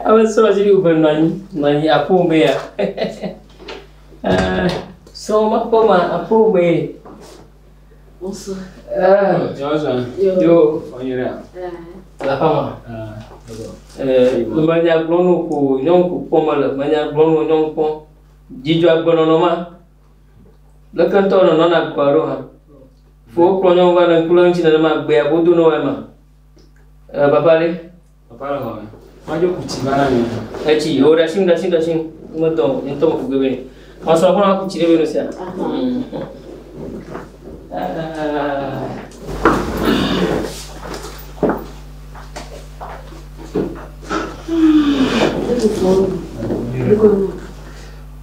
Ame srɔ̃ dzi wòve nɔ anyi nɔ anyi aƒo me ya eh, srɔ̃ ma ƒe ma aƒo me. Bonsoir. Ah, bonsoir. Yo, yo, on y est. La femme. Ah, d'accord. Euh, le manya gblɔnu ko nyɔnu ko kpɔm le manya gblɔnu nyɔnu kpɔm. Dzidzɔ agbenɔnɔ ma. Leke ŋutɔ nɔnɔ na gbɔa ɖo hã? Fowo kplɔ nyɔnu va le ŋku lém ŋuti nenema gbea godo ne woae ma. E, papa ɖe? Papa le xɔme. Madzo ku tsi va na mi. Etsi, o, ɖasi ŋu, ɖasi ŋu, ɖasi ŋu. Metɔ, ŋutɔ me ku gebe ne. Masrɔ̃ kɔ na ku tsi ɖe be no sia. Thank you.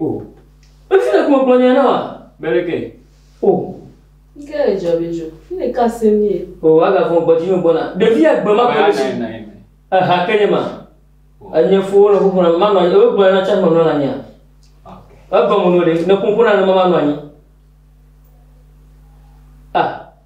O. Efi le kuma gblɔnya na wa bele ke. O. Nke le jɔ be jo. Fi le ka se mi e. O. Aga fɔ gbɔ jinyo gbɔ na. Devi ya gbe ma kɔ le shi. Aha ke nye ma. Enye fo le fo fona ma nɔ anyi. Ewe gblɔnya na cha ma nɔ la nya. Egɔ mu no le. Ne kun fona le ma ma nɔ anyi. A.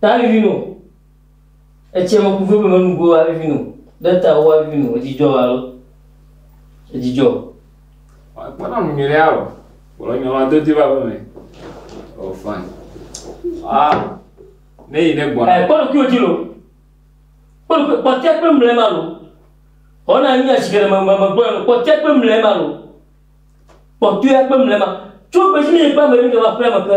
Ta vivi no. Etsia me ku veve menu go a vivi no. Ɖe ta wo a vivi no. Edzidjɔ alo. Edzidjɔ. Kpɔna nu nyuie ɖe o. Kpɔna nyuie la do ti va veve. Oh fine. Ah. Ne yi ne gbɔna. Eh, kpɔna kuyo ti lo. Kpɔna kuyo, kpɔtia kpe mle ma lo. Ona nyi asi kere me me me gbɔna lo. Kpɔtia kpe mle ma lo. Kpɔtia kpe mle ma. Tso besi ne yi kpe me yi ne va fle me ke.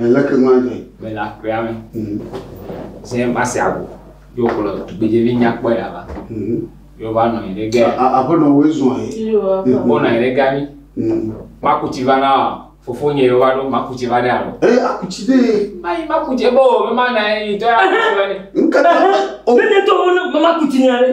Eh, leke nu adzɔe? Mele aƒea me. Mm. Se mase ago. Yo kplɔ tugbedzevi nyakpɔ ya va. Mm. Yo va nɔ anyi ɖe ga. Aƒenɔ woe zɔn ye. Wonɔ anyi ɖe ga mi. Mm. Makutsi va na wa. Fofo nye yo va ɖo makutsi va ɖe alɔ. Eh, akutsi ɖe. Mayi makutsi ebe o, mema na ye yi tɔ ya. Nkata. O. Ne ne tɔ wo ne makutsi nya ɖe.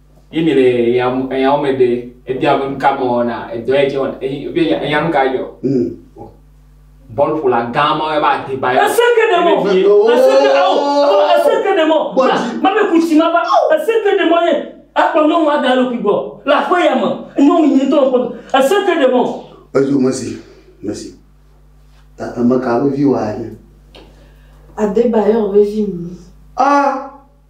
Ye mi le eya wɔme ɖe ebia be nuka me wɔna edɔ yɛ dze wɔna eye be enya nuka yɛ dzɔ. Mm. Bɔlƒola gã ma yɛ va Adeba yɛ. Ese ke ɖe mɔ. Ese ke awo. Ese ke ɖe mɔ. Ma be kusi ma va. Ese ke ɖe mɔ ye. Ekpɔ nyɔnu ada eɖokui gbɔ le aƒe ya me. Nyɔnu nyui ŋutɔ ŋkpɔ. Ese ke ɖe mɔ. Edzo mesi. Mesi. Ta emeka be vi wa nye. Adeba yɛ ɔbe vi mi. Ah.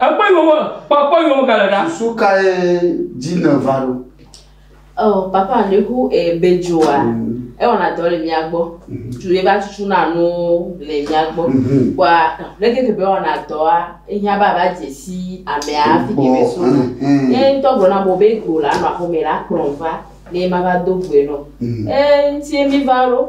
Ekpɔe yome, kpɔkpɔ yome gale ɖa. Susu kae dzi nèva ɖo? Oh, papa, nu ku e bedzoa, ewɔna dɔ le mía gbɔ. Tu ye va tutuna nuwo le mía gbɔ. Kpɔa, leke ke be ewɔna dɔa, ehiã be ava dze si amea hafi ke be sona. Ye ŋutɔ gblɔna be wo be go la nɔ aƒeme la kplɔm va ne mava do goe nɔ. Eŋuti ye mí va ɖo.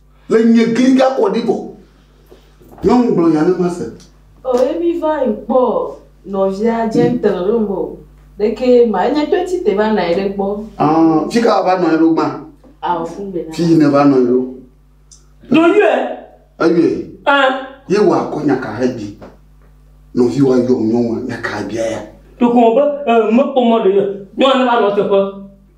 Le nye gli ga kɔ ɖi vɔ. Nyɔnu gblɔ nya ne ma se. O ye mi va yi kpɔ nɔvia gentle ɖo ŋgɔ o ɖeke ye ma enye to ti te va nɔ anyi ɖe gbɔ. Ɔn fi ka va nɔ anyi ɖo gbã. Ao fun be na. Fi yi ne va nɔ anyi ɖo. No yɔe. Eyɔe. An. Ye wa kɔ nya ka he bi nɔvi wa yɔ nyɔnua nya ka bia ya. Ɖeko be e me kpɔ mɔ ɖe nyɔnua ne va nɔ teƒe.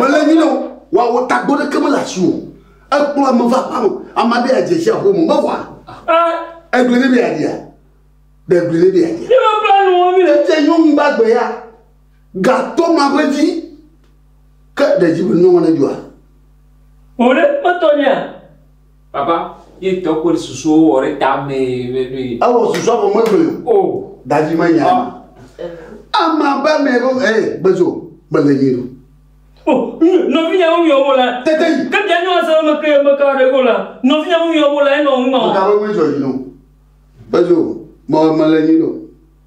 Mele nyi nɔ wa wo tagbo ɖe keme le asi o. Ekplɔ ame va aƒa me. Ame aɖe ya dzesi aƒo me mewɔa. Egblẽ ne bia dia. Ɖe egblẽ ne bia dia. Tete nyɔnu gbagbe ya gatɔ ma ƒe dzi ke ɖe dzi be nyɔnu ne dua. Wòɖe kpɔtɔ nia. Papa, ye tɔ kpɔ ɖe susu wɔ ɖe ta me me me. Ewɔ susu afɔ me me. O. Daji me nya. Ama ba me bo eh bezo me le nyi do. O, no vi nya wo yo wo la. Tete. Ke dia nyo ase me ke me ka re go la. No vi nya wo yo wo la e no ma. Ka wo me jo yi no. Bezo me me le nyi do.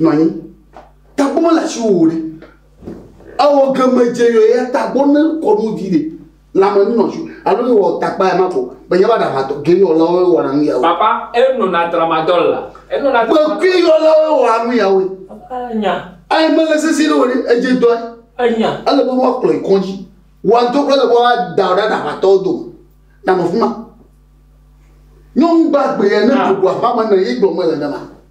Nɔ anyi. Tagbɔ mele asiwò o ɖe. Ewɔ geme dze yɔ ya tagbɔ ne kɔ nu vi ɖe. Lãme nu nɔ asiwò. Alo ne wɔ takpa ya ma ko. Be nye va ɖa ma tɔ. Ge yɔ la wo wɔna nu ya wo. Papa, e nɔ na tra ma dɔ la. E nɔ na. Be ge yɔ la wo wɔna nu ya wo. Papa le nya. Ayi mele sese ɖe o ɖe. E dze dɔɛ. E nya. Ele be wa kplɔe kɔdzi. Wa ŋtɔ kple le be wa da wo ɖa ɖa ma tɔ do. Na nɔ fima. Nyɔnu gbagbe ya ne dogo aƒa me ne ye gblɔ me le ne ma.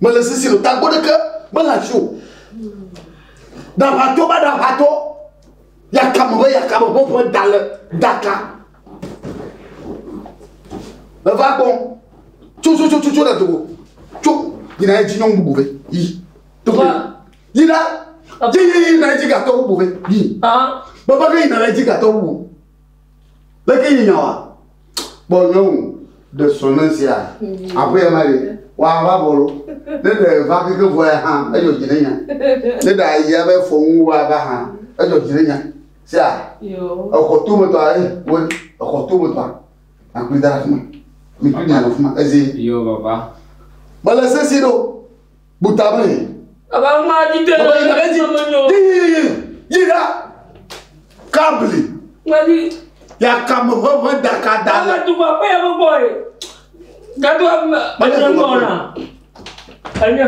mele sisi le tagbɔ ɖeke mele asi o ɖaʋatɔ va ɖaʋatɔ yakame va yakame ƒe ƒe da le daka eva gbɔ tsotsotsotsotso ɖe dogo tso yina edzi nyɔnu bubu vɛ yi tɔgbe yina dzi yi yina edzi gatɔ bubu vɛ yi baba ke yina edzi gatɔ bubu leke yi nyawa. Kpɔ nyɔnu ɖe srɔ̃ɖe sia aƒe ya ma ɖe wòava bɔlɔ ne ɖe va keke vɔ ya hã edzɔ dzi ɖe nya ne ɖe ayi abe fɔŋu wòava hã edzɔ dzi ɖe nya sia exɔ to metɔ ayi wo exɔ to metɔ akpli da ɖe afi ma mi kpli mi anɔ afi ma ezi. Yɔ baba. Mele sesi ɖo. Bu ta be yi. Baba ŋu ma di de. Baba yi na be di. Yi yi yi yi ɖa. Kabli. Ŋmɛdi. Yakame ʋeʋe daka da. Baba dugba kpe ya gbogbo ye. Gado ame. Baba dugba kpe. Enye.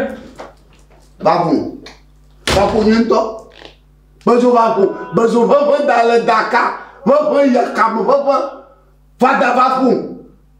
Babu. Babu nye ŋutɔ. Bezo babu. Bezo ʋeʋe da le daka. Ʋeʋe yakame ʋeʋe. Fada babu.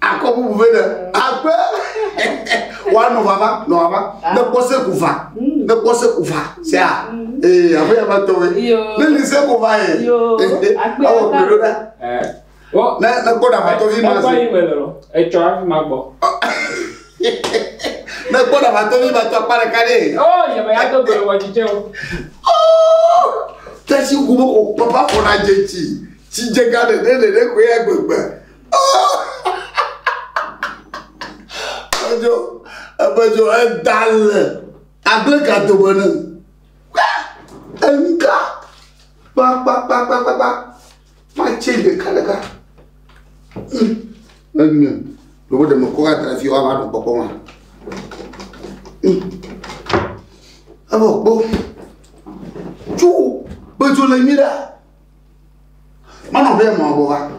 Akɔ bubu be ɖe agbe woanɔ vava nɔ vava ne kpɔ se ku va ne kpɔ se ku va sea ee abe yaba tɔ be ne ni se ku va ye awɔ kpe ɖo ɖa ne ne kpɔ ɖamatɔ fi ma se etsɔ afi ma gbɔ ne kpɔ ɖamatɔ fi ma tɔ akpa ɖeka ɖe o yaba ya tɔ gbe wɔ titɛ o tɛsi ku be o papa fɔ na dze tsi tsi dze ga ɖe ɖe ɖe koe agbegbe. Edzo, eƒe dzo eda le agble ka dome ne? Eŋka kpakpakpakpakpa matse ɖekaɖeka. Ne nye ɖewo ɖe mekɔ va da fi woava nɔ kpɔkpɔ ma. Evɔ kpɔ tso be dzo le nyuiɖea manɔ be mɔ bɔ va.